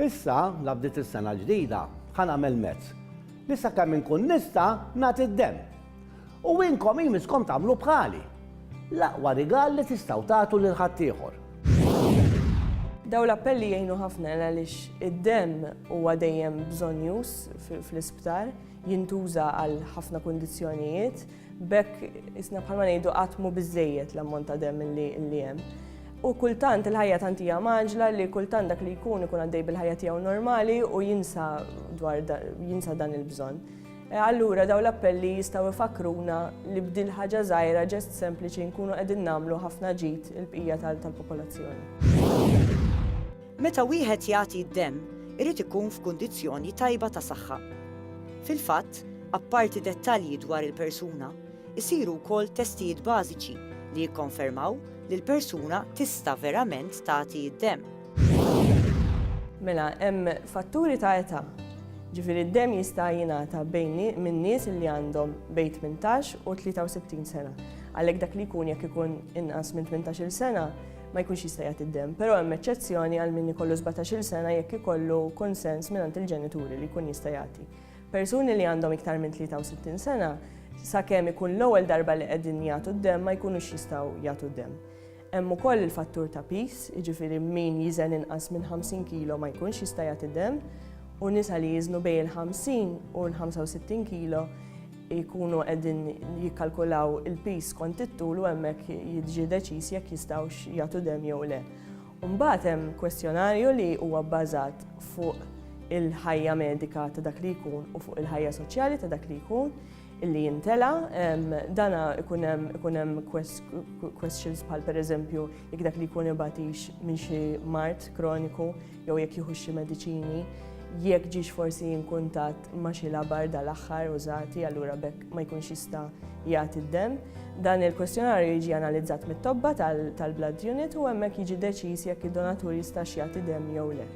Issa, la bdiet is-sena l-ġdida, ħa nagħmel mezz, li sakemm inkun nista' nagħti d-demm. U inkom jmisskom tagħmlu bħali. L-aqwa rigal li tistgħu tagħtu lil ħaddieħor. Dawn l-appelli jgħinu ħafna għaliex id-demm huwa dejjem bżonnjuż fl-isptar, jintuża għal ħafna kundizzjonijiet. B'hekk isna bħalma ngħidu qatt mhu biżejjed l-ammont ta' demm li hemm. U kultant il-ħajja tant hija maġla li kultant dak li jkun ikun għaddej bil-ħajja tiegħu normali u jinsa dwar jinsa dan il-bżonn. E, allura daw l-appelli jistgħu ifakruna li bdil ħaġa żgħira ġest sempliċi nkunu qegħdin nagħmlu ħafna ġid il-bqija tal-popolazzjoni. Meta wieħed jagħti d-demm irid ikun f'kundizzjoni tajba ta' saħħa. Fil-fatt, apparti dettalji dwar il-persuna, isiru wkoll testijiet bażiċi li jikkonfermaw li l-persuna tista' verament tagħti d-demm. Mela, hemm fatturi ta' età. Ġifieri d-demm jista' jingħata bejn minn nies li għandhom bejn tmintax u 63 sena. Għalhekk dak li jkun jekk ikun inqas minn tmintax-il sena, ma jkunx jista' jagħti d-demm, però hemm eċċezzjoni għal min ikollu 17-il sena jekk ikollu konsens mingħand il-ġenituri li jkun jista' jagħti. Persuni li għandhom iktar minn 63 sena, sakemm ikun l-ewwel darba li qegħdin jagħtu d-demm ma jkunux jistgħu jagħtu d-demm. Hemm ukoll il-fattur ta' pis, jiġifieri min jiżen inqas minn 50 kilo ma jkunx jista' jagħti dem, u nisa li jiżnu bejn il-50 u l-65 kilo jkunu qegħdin jikkalkulaw il-piż skont it-tul u hemmhekk jiġi deċiż jekk jistgħux jagħtu demm jew le. Mbagħad hemm kwestjonarju li huwa bbażat fuq il-ħajja medika ta' dak li jkun u fuq il-ħajja soċjali ta' dak li jkun illi jintela, dana ikun hemm questions bħal pereżempju jekk dak li jkun ibatix minn xi mart kroniku jew jekk jieħux xi mediċini, jekk ġiex forsi inkuntat ma' xi labar dal-aħħar użati allura bekk ma jkunx jista' jagħti d-demm. Dan il-kwestjonarju jiġi analizzat mit-tobba tal-blood unit u hemmhekk jiġi deċiż jekk id-donatur jistax jagħti demm jew le.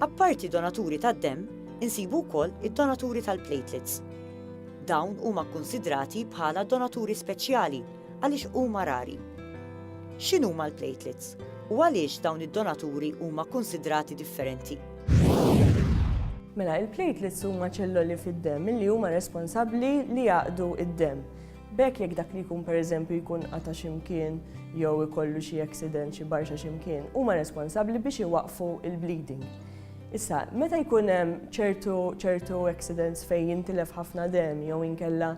Apparti donaturi tad-demm, insibu wkoll id-donaturi tal-platelets. Dawn huma kkunsidrati bħala donaturi speċjali Għaliex huma rari? X'inhuma l-platelets? U għaliex dawn id-donaturi huma kkunsidrati differenti? Mela, il-platelets huma ċelloli fid-demm li huma responsabbli li jaqdu id-demm. B'hekk jekk dak li jkun pereżempju jkun qata' x'imkien jew ikollu xi accident xi barxa x'imkien, huma responsabbli biex iwaqqfu l-bleeding. Issa, meta jkun hemm ċertu ċertu accidents fejn jintilef ħafna demm jew inkella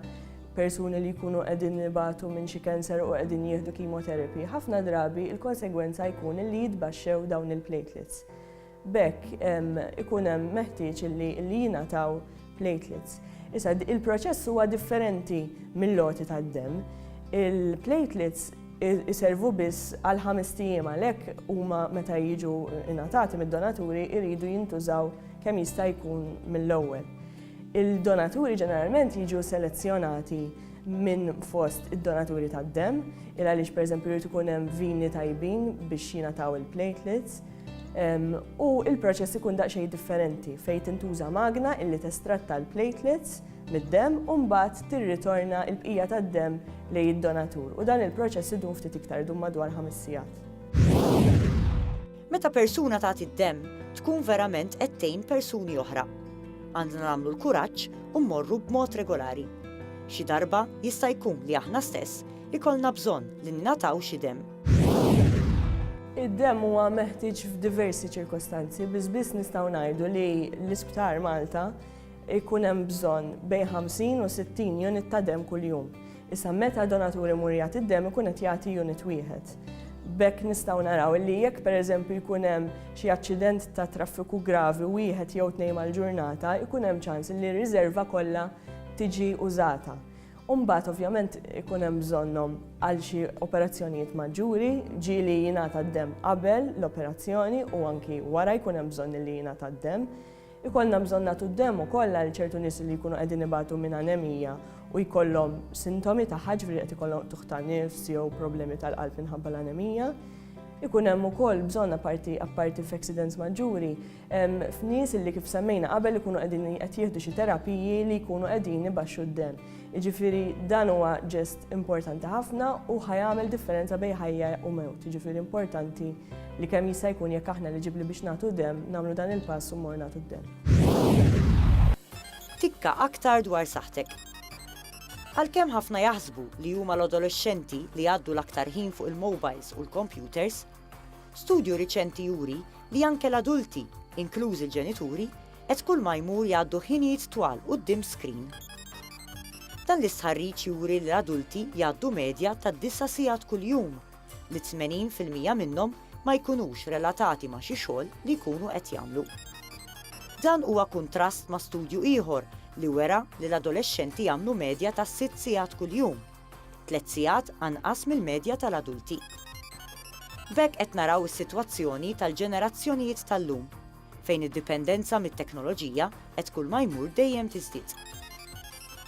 persuni li jkunu qegħdin ibatu minn xi cancer u qegħdin jieħdu chemotherapy, ħafna drabi il-konsegwenza jkun li jitbaxxew dawn il-platelets. Bekk ikun hemm meħtieġ li jingħataw platelets. Issa il-proċess huwa differenti mill-loti tad-dem. Il-platelets iservu biss għal ħames tijiem għalhekk huma meta jiġu ingħatati mid-donaturi jridu jintużaw kemm jista' jkun mill-ewwel. Il-donaturi ġeneralment jiġu selezzjonati minn fost id-donaturi tad-demm, il għaliex pereżempju jrid ikun hemm vini tajbin biex jingħataw il-platelets, ehm, u il-proċess ikun daqsxejn differenti fejn tintuża magna illi testratta l-platelets mid-demm u mbagħad tirritorna l-bqija tad-demm lejn id-donatur u dan il-proċess idum ftit iktar idum madwar ħames sigħat. Meta persuna tagħti d-demm, tkun verament qed tgħin persuni oħra. Għandna nagħmlu l-kuraġġ u mmorru b'mod regolari. Xi darba, jista' jkun li aħna stess ikollna bżonn li ningħataw xi demm. Id-demm huwa meħtieġ f'diversi ċirkostanzi, biss biss nistgħu ngħidu li l-Isptar Malta Ikun hemm bżonn bejn 50 u 60 unit ta' demm kuljum. Issa meta donatur imur jagħti d-demm ikun qed jagħti unit wieħed. B'hekk nistgħu naraw illi jekk pereżempju jkun hemm xi aċċident ta' traffiku gravi wieħed jew tnejn mal-ġurnata jkun hemm ċans illi r-riżerva kollha tiġi użata. U mbagħad ovvjament ikun hemm bżonnhom għal xi operazzjonijiet maġġuri, ġieli jingħata d-demm qabel l-operazzjoni u anki wara jkun hemm bżonn illi jingħata d-demm. Ikollna bżonn nagħtu d-demo kollha għal ċertu nies li jkunu qegħdin ibatu minn anemija u jkollhom sintomi tagħha, ġifieri qed ikollhom qtugħ ta' nifs jew problemi tal-qalb minħabba l-anemija. Ikun hemm ukoll bżonn apparti apparti f'accidents maġġuri, f'nies li kif semmejna qabel ikunu qegħdin qed jieħdu xi terapiji li jkunu qegħdin ibaxxu d-demm. Jiġifieri dan huwa ġest importanti ħafna u ħa jagħmel differenza bejn ħajja u mewt. Jiġifieri importanti li kemm jista' jkun jekk aħna eliġibbli biex nagħtu demm, nagħmlu dan il-pass u mmorru nagħtu d-demm. Tikka aktar dwar saħħtek. Għalkemm ħafna jaħsbu li huma l-adolexxenti li jgħaddu l-aktar ħin fuq il-mowbajls u l-kompjuters, studju riċenti juri li anke l-adulti, inklużi l-ġenituri, Qed kulma jmur jgħaddu ħinijiet twal quddiem screen. Dan l-istħarriġ juri li l-adulti jgħaddu medja ta' disa' sigħat kuljum, li 80 fil-mija minnhom ma jkunux relatati ma' xi xogħol li jkunu qed jagħmlu. Dan huwa kuntrast ma' studju ieħor li wera li l-adolexxenti jagħmlu medja ta' sitt sigħat kuljum, tliet sigħat anqas mill-medja tal-adulti. B'hekk qed naraw is-sitwazzjoni tal-ġenerazzjonijiet tal-lum, fejn id-dipendenza mit-teknoloġija qed kull ma jmur dejjem tiżdied.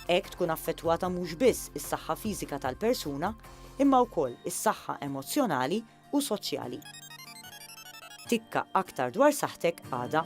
Hekk tkun affettwata mhux biss is-saħħa fiżika tal-persuna, imma wkoll is-saħħa emozzjonali u soċjali. Tikka aktar dwar saħħtek għada.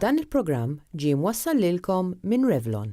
Dan il-programm ġie mwassal lilkom minn Revlon.